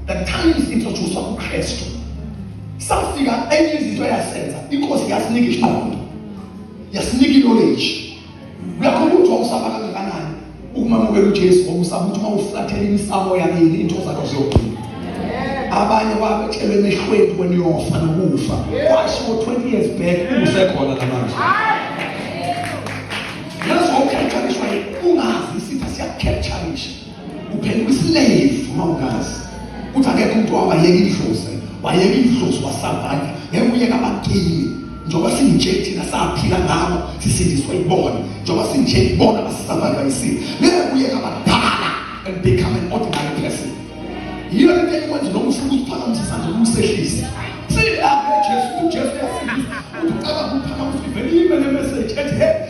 the time sintroducwa uKristu safika enye izinto yasenza inkosi yasinika isiqondo yasinika knowledge uyakho umuntu okusaba kangakanani ukumamukela uJesu ngokusaba ukuthi uma uflathela imisamo yakini into zakho ziyophila abanye wabatshelwe emehlweni when uyofa nokufa kwasho 20 years back usekhona namanje yazi wawukhethaliswa ungazi isitha siyakhethanisha Uphela kwislave uma ungazi. Uthi akekho umuntu wabayeka idlozi. Wayeka idlozi wasavanda. Ngeke uyeka abagili. Njengoba sinje thina saphila ngabo sisindiswa ibona. Njengoba sinje ibona basisavanda isimo. Ngeke uyeka abadala and become an ordinary person. Yiyo into ekwenza noma ufuna ukuphakamisa isandla noma usehlise. Sila uJesu uJesu yasindisa. Ucabanga ukuphakamisa ivele ibe nemessage ethi hey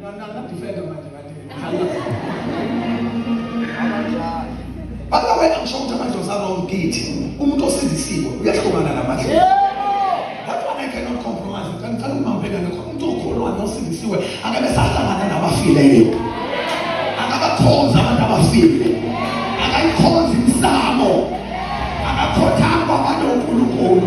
Na na na defender manje kade. Bala wena ngisho ukuthi amadlozi along kithi umuntu osindisiwe uyahlukana namadlozi. That's why I cannot compromise. Kanti ngicela ukubambeka ngakho umuntu okholwa nosindisiwe akabe sahlangana nabafileyo. Akabakhonza abantu abafile. Akayikhonza imsamo. Akakhothanga abantu oNkulunkulu.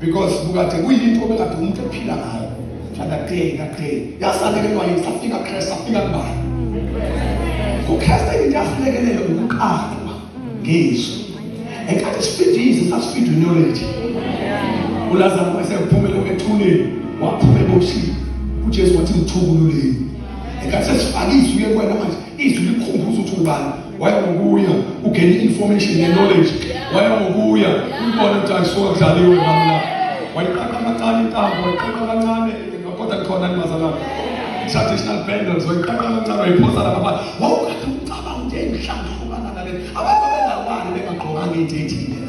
because bukade kuyinto obekade umuntu ephila ngayo fana day ngaday yasalekelwa yini safika christ safika kubani kuchrist into yasilekelele ukuqalwa ngizwe enkathi sifida izwi sasifida unyoledi ulazaro wayesephumele ethuneni waphuma eboshini ujesu wathi ngithukululeni enkathi sesifake izwi kuye kwena manje izwi likhumbuza ukuthi ubani wayengokuya ugena i-information ne-knowledge wayengokuya umbona ukuthi ayisokadlaliwe ngamla wayiqaqa kancane intambo wayiqaqa kancane kodwa khona nimazalana traditional bangles wayiqaqa kancane wayiphosa lapha pha wawukade ucabanga ukuthi engihlangahukana nale abantu bengawani bengagqokanga into ethile